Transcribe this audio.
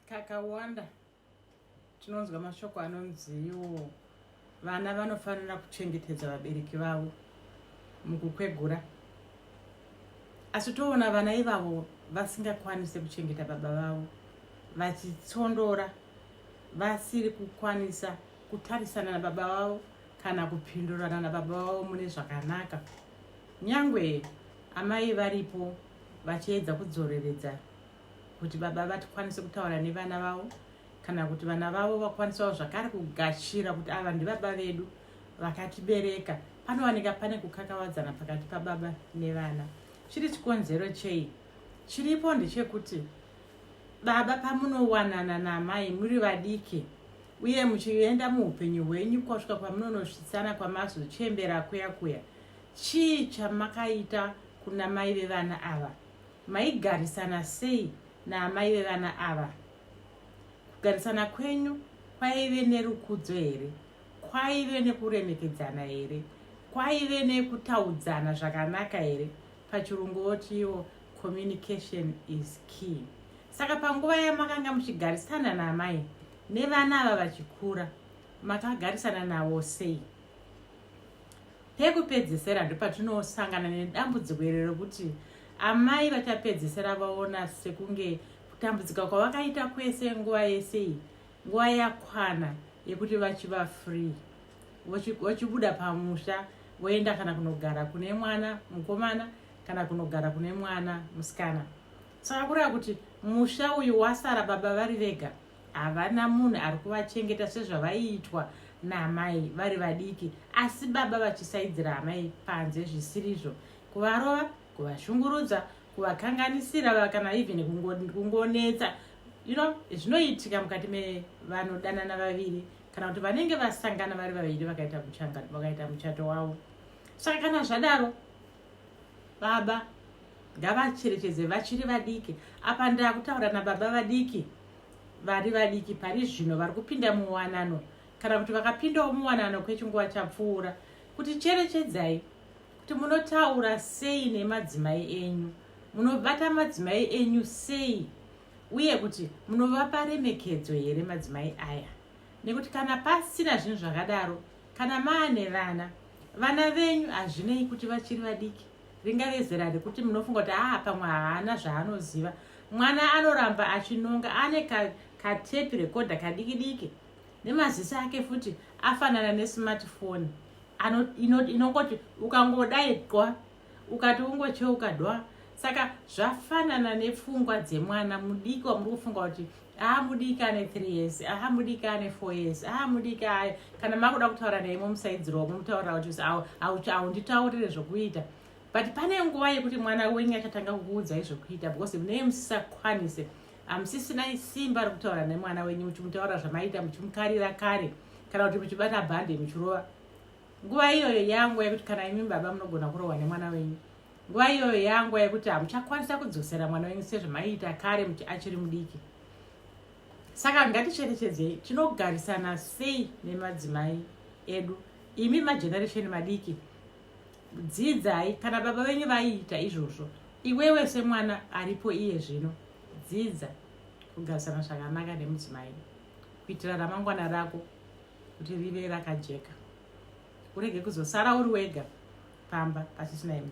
kakawanda tinonzwa mashoko anonziwo vana vanofanira kuchengetedza vabereki vavo mukukwegura asi toona vana ivavo vasingakwanise kuchengeta baba vavo vachitsondora vasiri kukwanisa kutarisana nababa vavo kana kupindurana nababa vavo mune zvakanaka nyangwe amai varipo vachiedza kudzoreredza kuti baba vatikwanise kutaura nevana vavo kana kuti vana vavo vakwanisawo zvakare kugashira kuti ava ndibaba vedu vakatibereka panowanika pane kukakavadzana pakati pababa nevana chiri chikonzero chei chiripo ndechekuti baba pamunowanana namai muri vadiki uye muchienda muupenyu hwenyu kwasvika kwamunonosvitsana kwamazochembera kuya kuya Chii chamakaita kuna mai vevana ava? Maigarisana sei naamai vevana ava? Kugarisana kwenyu kwaive nerukudzo here? Kwaive nekuremekedzana here? Kwaive nekutaudzana zvakanaka here? Pachirungu votiwo communication is key. Saka panguva yamakanga muchigarisana naamai nevana ava vachikura, makagarisana navo sei? Pekupedzesera ndopatinosangana nedambudziko iri rekuti amai vachapedzesera vaona sekunge kutambudzika kwavakaita kwese nguva yese iyi nguva yakwana yekuti vachiva free vachibuda pamusha voenda kana kunogara kune mwana mukomana kana kunogara kune mwana musikana saka kureva kuti musha uyu wasara baba vari vega havana munhu ari kuvachengeta sezvavaiitwa naamai vari vadiki asi baba vachisaidzira amai panze zvisirizvo kuvarova kuvashungurudza kuvakanganisira vakana even kungonetsa you know zvinoitika mukati mevanodanana vaviri kana kuti vanenge vasangana vari vaviri vakaita muchato wavo saka kana zvadaro baba ngavacherechedze vachiri vadiki apa ndakutaura nababa vadiki vari vadiki pari zvino vari kupinda muwanano kana kuti vakapindawo muwanano kwechinguva chapfuura kuti cherechedzai kuti munotaura sei nemadzimai enyu munobata madzimai enyu sei uye kuti munovapa remekedzo here madzimai aya nekuti kana pasina zvinhu zvakadaro Kana maane vana, vana venyu hazvinei kuti vachiri vadiki ringave zera rekuti munofunga kuti haa pamwe haana zvaanoziva. Mwana anoramba achinonga ane katepi ka rekodha kadiki diki nemaziso ake futi afanana nesmartphone inongoti ino ukangodai qwa ukati ungocheuka dwa saka zvafanana nepfungwa dzemwana mudiki wamuri kufunga kuti haa mudiki ane three years aha mudiki ane four years aha mudiki aya kana makuda kutaura naye momusaidzirwa momutaurira kuti haunditaurire zvokuita but pane nguva yekuti mwana wenyu achatanga kukuudzai zvokuita because munee musisakwanise hamusisina isimba rokutaura nemwana wenyu muchimutaura zvamaita muchimukarira kare kana kuti muchibata bhande muchirova nguva iyoyo yangu yekuti kana imi baba munogona kurohwa nemwana wenyu nguva iyoyo yanguva yekuti hamuchakwanisa kudzosera mwana wenyu sezvamaiita kare muti achiri mudiki saka ngaticherechedzei tinogarisana sei nemadzimai edu imi mageneration madiki dzidzai kana baba venyu vaiita izvozvo iwewe semwana aripo iye zvino dzidza kugarisana zvakanaka nemudzimai kuitira ramangwana rako kuti rive rakajeka urege kuzosara uri wega pamba pasisina imudzi